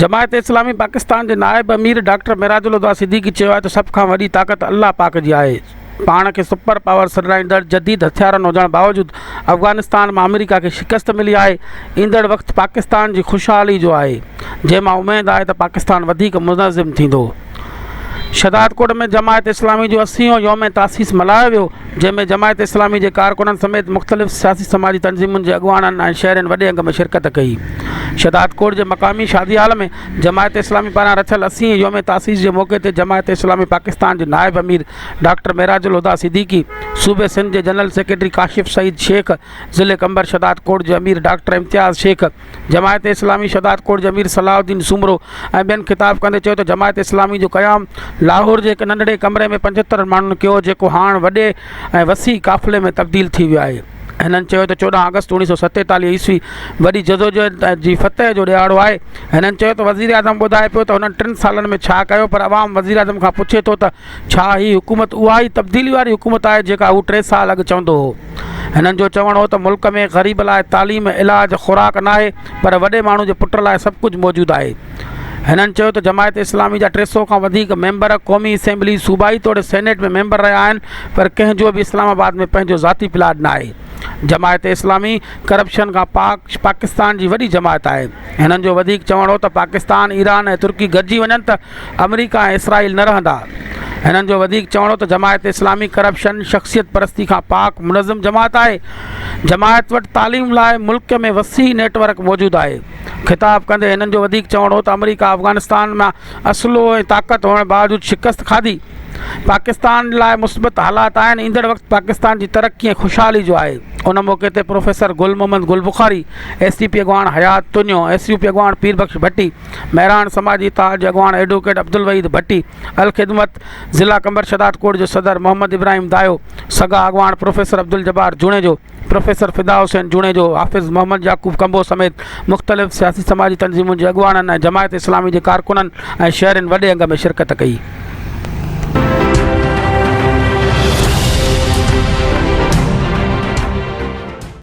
جماعت اسلامي پاڪستان جي نائب امير ڊاڪٽر معراج الهديٰ صديقي چيو آهي ته سڀ کان وڏي طاقت الله پاڪ جي آهي، پاڻ کي سپر پاور سڏرائيندڙ جديد هٿيارن هجڻ باوجود افغانستان مان آمريڪا کي شڪست ملي آهي، ايندڙ وقت پاڪستان جي خوشحالي جو آهي، جنهن مان اميد آهي ته پاڪستان وڌيڪ منظم ٿيندو. شهدادڪوٽ ۾ جماعت اسلامي جو اسيون يوم تاسيس ملهايو ويو. جنهن ۾ جماعت اسلامي جي ڪارڪنن سميت مختلف سياسي سماجي تنظيمن جي اڳواڻن ۽ شهرين وڏي انگ ۾ شرڪت ڪئي شهدادڪوٽ جي مقامي شادي هال ۾ جماعت اسلامي پاران رٿيل اسين يوم تاسيس جي موقعي تي جماعت اسلامي پاڪستان جي نائب امير ڊاڪٽر معراج الهديٰ صديقي صوبي سنڌ جي جنرل سيڪريٽري ڪاشف سعيد شيخ ضلعي قمبر شهدادڪوٽ جي امير ڊاڪٽر امتياز شيخ جماعت اسلامي شهدادڪوٽ جي امير صلاح الدين سومرو ۽ ٻين خطاب ڪندي چيو ته جماعت اسلامي جو قيام لاهور جي هڪ ننڍڙي ڪمري ۾ پنجهتر ماڻهن ڪيو جيڪو هاڻ وڏي ۽ وسيع قافلي ۾ تبديل ٿي ويو آهي هنن چيو ته چوڏهن آگسٽ اوڻيهه سؤ ستيتاليهه عيسوي وڏي جدوجهد جي فتح جو ڏهاڙو آهي هنن چيو ته وزيراعظم ٻڌائي پيو ته هنن ٽن سالن ۾ ڇا ڪيو پر عوام وزيراعظم کان پڇي ٿو ته ڇا هي حڪومت اها ئي تبديلي واري حڪومت آهي جيڪا هو ٽي سال اڳ چوندو هو؟ هنن جو چوڻ هو ته ملڪ ۾ غريب لاء تعليم، علاج، خوراڪ ناهي پر وڏي ماڻهو جي پٽ لاء سڀ ڪجهه موجود آهي. هنن چيو ته جماعت اسلامي جا ٽي سئو کان وڌيڪ ميمبر قومي اسيمبلي، صوبائي توڙي سينيٽ ۾ ميمبر رهيا آهن پر ڪنهن جو به اسلام آباد ۾ پنهنجو ذاتي پلاٽ ناهي. جماعت اسلامي ڪرپشن کان پاڪ پاڪستان جي وڏي جماعت آهي. هنن جو وڌيڪ چوڻ هو ته پاڪستان، ايران ۽ ترڪي گڏجي وڃن ته آمريڪا ۽ اسرائيل نه رهندا. هنن جو وڌيڪ چوڻ هو ته جماعت اسلامي ڪرپشن، شخصيت پرستي کان پاڪ منظم جماعت آهي. جماعت وٽ تعليم لاء ملڪ ۾ وسيع نيٽ ورڪ موجود آهي. خطاب ڪندي هنن جو وڌيڪ چوڻ هو ته آمريڪا افغانستان مان اسلحو ۽ طاقت هئڻ باوجود شڪست کاڌي. پاڪستان لاء مثبت حالات آهن، ايندڙ وقت پاڪستان جي ترقي ۽ خوشحالي جو آهي، ان موقعي تي professor Gul Muhammad Gul Bukhari, S C P اڳواڻ Hayat Tunio, S U P اڳواڻ پير بخش ڀٽي، مهراڻ سماجي اتحاد جي اڳواڻ ايڊووڪيٽ عبدالوحيد ڀٽي، الخدمت ضلع قمبر شهدادڪوٽ جو صدر محمد ابراهيم دايو، سگا اڳواڻ پروفيسر عبدالجبار جوڻيجو، پروفيسر فدا حسين جوڻيجو، حافظ محمد يعقوب ڪنڀو سميت مختلف سياسي سماجي تنظيمن جي اڳواڻن ۽ جماعت اسلامي جي ڪارڪنن ۽ شهرين وڏي انگ ۾ شرڪت ڪئي.